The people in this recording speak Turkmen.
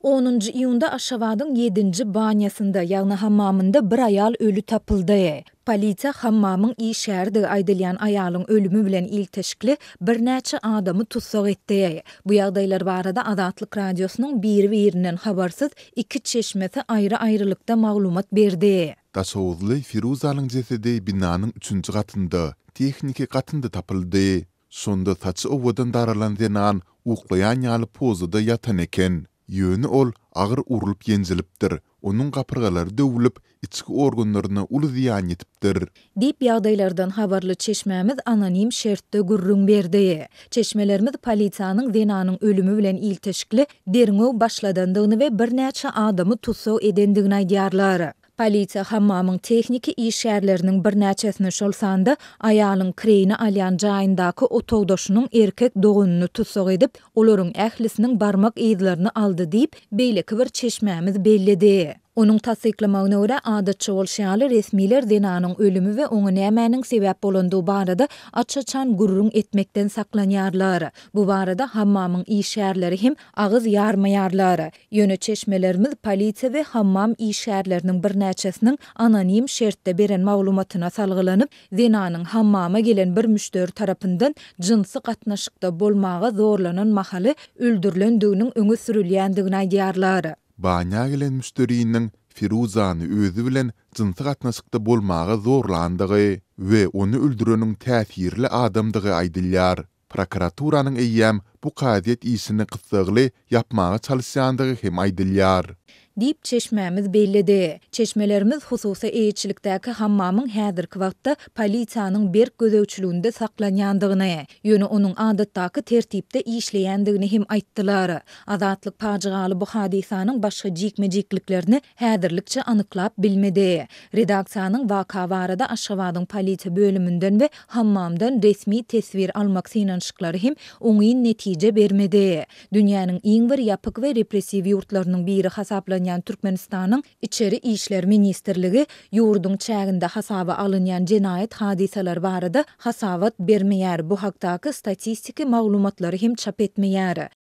Onunjy iýunda Aşgabadyň ýedinji banýasynda, ýagny hammamynda bir aýal öli tapyldy. Polisiýa hammamyň işgäridi aýdylýan aýalyň ölümi bilen ilteşikli birnäçe adamy tussag etdi. Bu ýagdaýlar barada Azatlyk Radiosynyň biri-birinden habarsyz iki çeşmesi aýry-aýrylykda maglumat berdi. Daşoguzly Firuzanyň jesedi binanyň üçünji gatynda, tehniki gatynda tapyldy. Şonda saçy owadan daralan zenan uklaýan ýaly pozada ýatan eken. Ýöne ol agyr urlup-ýenjilipdir, onuň gapyrgalary döwülip, içki organlaryna uly zyýan ýetipdir. Diýip, ýagdaýlardan habarly çeşmämiz anonim şertde gürrüň berdi. Çeşmelerimiz polisiýanyň zenanyň ölümi bilen ilteşikli derňew başladandygyny we birnäçe adamy tussag edendigini aýdýarlar. Polisiýa hammamyň tehniki işgärleriniň birnäçesini, şol sanda aýalyň kireýine alýan jaýyndaky otagdaşynyň erkek doganyny tussag edip, olaryň ählisiniň barmak yzlaryny aldy diýip, beýleki bir çeşmämiz belledi. Onuň tassyklamagyna görä, adatça bolşy ýaly, resmiler zenanyň ölümi we oňa nämäniň sebäp bolandygy barada aç-açan gürrüň etmekden saklanýarlar. Bu barada hammamyň işgärleri hem agyz ýarmaýarlar. Ýöne çeşmelerimiz polisiýa we hammam işgärleriniň birnäçesiniň anonim şertde beren maglumatyna salgylanyp, zenanyň hammama gelen bir müşderi tarapyndan jynsy gatnaşykda bolmaga zorlanan mahaly öldürilendiginiň öňe sürülýändigini aýdýarlar. Banýa gelen müşderiniň Firuzany özi bilen jynsy gatnaşykda bolmaga zorlandygy we ony öldüreniň täsirli adamdygy aýdylýar. Prokuraturanyň eýýäm bu kazyýet işini gyssagly ýapmaga çalyşýandygy hem aýdylýar. Diýip, çeşmämiz belledi. Çeşmelerimiz hususy eýeçilikdäki hammamyň häzirki wagtda polisiýanyň berk gözegçiliginde saklanýandygyny, ýöne onuň adatdaky tertipde işleýändigini hem aýtdylar. Azatlyk pajygaly bu hadysanyň başga jikme-jikliklerini häzirlikçe anyklap bilmedi. Redaksiýanyň waka barada Aşgabadyň polisiýa bölüminden we Hammamdan resmi teswir almak synanyşyklary hem oňyn netije bermedi. Dünýäniň iň bir ýapyk we repressiw ýurtlarynyň biri hasaplanýan Türkmenistanyň Içeri işler ministrligi ýurduň çäginde hasaba alynýan jenaýat hadysalary barada hasabat bermeýär, bu hakdaky statistiki maglumatlary hem çap etmeýär.